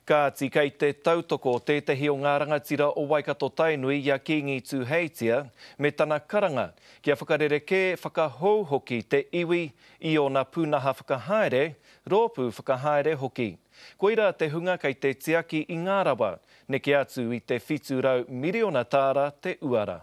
Kāti, kei te tautoko tētahi o ngā rangatira o Waikato-Tainui i a Kīngi Tūheitia me tana karanga kia whakarerekē, whakahou hoki te iwi i ōna pūnaha whakahaere, rōpū whakahaere hoki. Koirā te hunga kei te tiaki i ngā rawa, neke atu i te 700 miriona tāra te uara.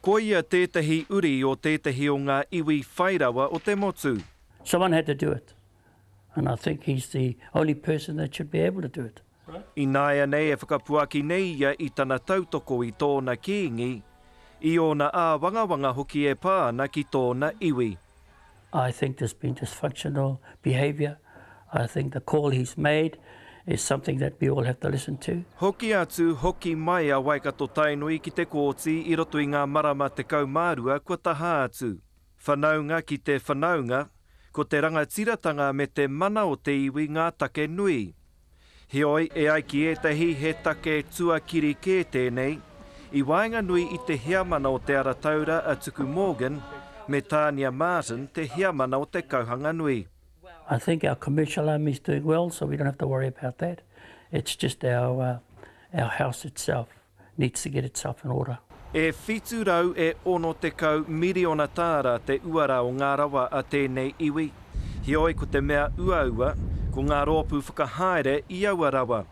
Koia tētahi uri o tētahi o ngā iwi whai rawa o te motu. Someone had to do it and I think he's the only person that should be able to do it. Ināianei e whakapuaki nei ia i tana tautoko i tōna kīngi, i ōna āwangawanga hoki e pā ana ki tōna iwi. I think there's been dysfunctional behaviour, I think the call he's made is something that we all have to listen to. Hoki atu, hoki mai a Waikato-Tainui ki te Kōti i roto i ngā marama 12 kua taha atu. Whanaunga ki te whanaunga, ko te rangatiratanga me te mana o te iwi ngā take nui. Heoi, e ai ki ētahi he take tuakiri kē tēnei, i waenganui i te heamana o Te Ara Taura a Tuku Morgan me Tania Martin te heamana o Te Kauhanganui. I think our commissioner is doing well so we don't have to worry about that, it's just our house itself. needs to get itself in order. E whitu rau e ono tekau miriona tāra te uara o ngā rawa a tēnei iwi. Heoi ko te mea uaua, ko ngā rōpū whakahaere i aua rawa.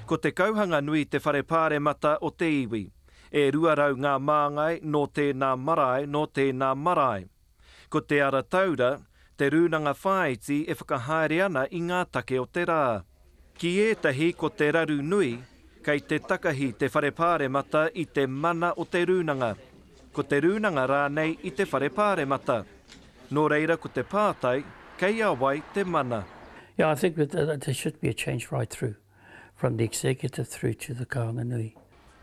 Ko Te Kauhanganui te whare pāremata o te iwi. E rua rau ngā māngai nō tēnā marae, nō tēnā marae. Ko Te Ara Taura te rūnanga whāiti e whakahaere ana i ngā take o te rā. Ki ētahi ko te raru nui, kei te takahi te Whare Pāremata i te mana o te rūnanga, ko te rūnanga rānei i te Whare Pāremata. Nō reira ko te pātai, kei a wai te mana? Yeah, I think that there should be a change right through. from the executive through to the Kāinga Nui.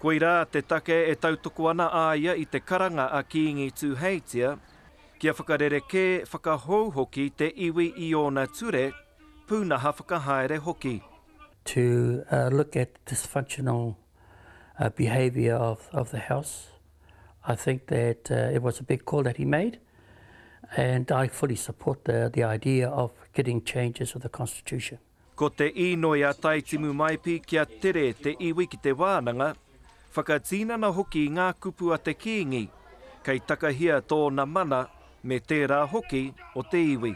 Koirā te take e tautoko ana a ia i te karanga a Kīngi Tūheitia, kia whakarerekē, whakahou hoki te iwi i ōna ture, pūnaha whakahaere hoki. To look at the dysfunctional behaviour of of the House, I think that it was a big call that he made and I fully support the the idea of getting changes of the Constitution. Ko te īnoi a Tai Timumaipi kia tere te iwi ki te wānanga, whakatīnana hoki i ngā kupu a te Kīngi, kei takahia tōna mana me tērā hoki o te iwi.